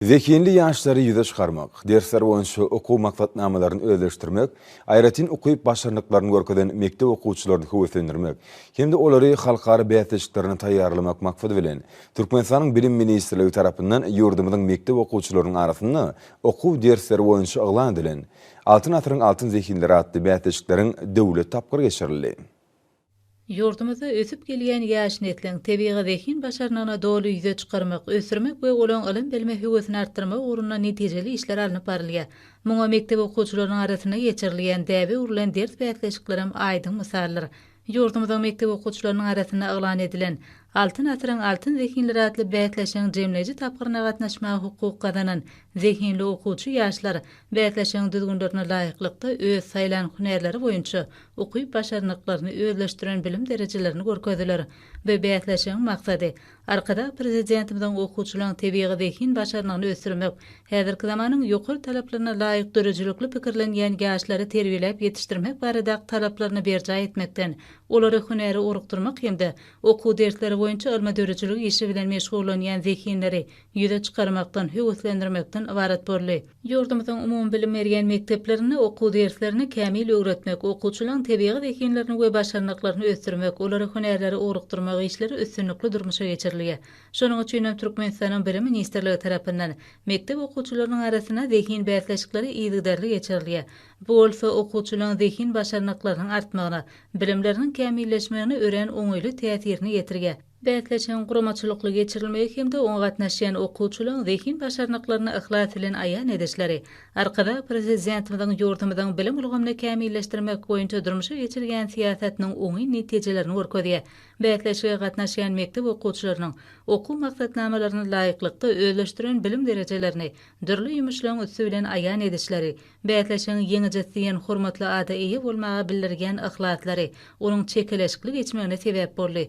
Zehinli ýaşlary ýüze çykarmak, dersler boýunça okuw maksatnamalaryny özleşdirmek, aýratyn ukyp-başarnyklaryny görkezen mekdep okuwçylaryny höweslendirmek hem-de olary halkara bäsleşiklerine taýýarlamak maksady bilen, Türkmenistanyň Bilim ministrligi tarapyndan ýurdumyzyň mekdep okuwçylarynyň arasynda okuw dersleri boýunça yglan edilen Altyn asyryň altyn zehinleri atly bäsleşikleriň döwlet tapgyry geçirildi. Ýurdumyzda ösüp gelýän ýaş nesliň tebigy zehin-başarnygyny doly ýüze çykarmak, ösdürmek we olaň ylym-bilime höwesini artdyrmak ugrunda netijeli işler alnyp barylýar. Muňa mekdep okuwçylarynyň arasynda geçirilýän däbe öwrülen ders bäsleşiklerem aýdyň mysaldyr. Ýurdumyzyň mekdep okuwçylarynyň arasynda yglan edilen Altyn asyryň altyn zehinleri atly bäsleşigiň jemleýji tapgyryna gatnaşmaga hukuk gazanan Zehinli okuwçy ýaşlar bäsleşigiň düzgünlerine laýyklykda öz saýlan hünärleri boýunça ukyp-başarnyklaryny özleşdiren bilim derejelerini görkezdiler. Bu bäsleşigiň maksady, Arkadag Prezidentimiziň okuwçylaryň tebigy zehin başarnygyny ösdürmek, häzirki zamanyň ýokary talaplaryna laýyk döredijilikli pikirlenýän ýaşlary terbiýeläp ýetişdirmek baradaky talaplaryny berjaý etmekden, olary hünäre orukdyrmak hem-de okuw dersleri boýunça ylmy-döredijiligi işi bilen meşgullanýan zehinleri ýüze çykarmakdan, höweslendirmekden ybarat boldy. Ýurdumyzyň umumybilim berýän mekdeplerinde okuw derslerini kämil öwretmek, okuwçylaryň tebigy zehinlerini we başarnyklaryny ösdürmek, olara hünärleri ugrukdyrmak işleri üstünlikli durmuşa geçirilýär. Şonuň üçin hem Türkmenistanyň Bilim ministrligi tarapyndan mekdep okuwçylarynyň arasynda zehin bäsleşikleri yzygiderli geçirilýär. Bu bolsa okuwçylaryň zehin başarnyklarynyň artmagyna, bilimleriniň kämilleşmegine örän oňaýly täsirini ýetirýär. Bäsleşigiň guramaçylykly geçirilmegi hem-de oňa gatnaşýan okuwçylaryň zehin başarnyklaryny yhlas bilen aýan edişleri Arkadag Prezidentimiziň ýurdumyzyň bilim ulgamyny kämilleşdirmek boýunça durmuşa geçirýän syýasatynyň oňyn netijelerini görkezýär. Bäsleşige gatnaşýan mekdep okuwçylarynyň okuw maksatnamalaryna laýyklykda özleşdiren bilim derejelerini dürli ýumuşlaryň üsti bilen aýan edişleri, bäsleşigiň ýeňijisi diýen hormatly ada eýe bolmaga bildirýän yhlaslary onuň çekeleşikli geçmegine sebäp boldy.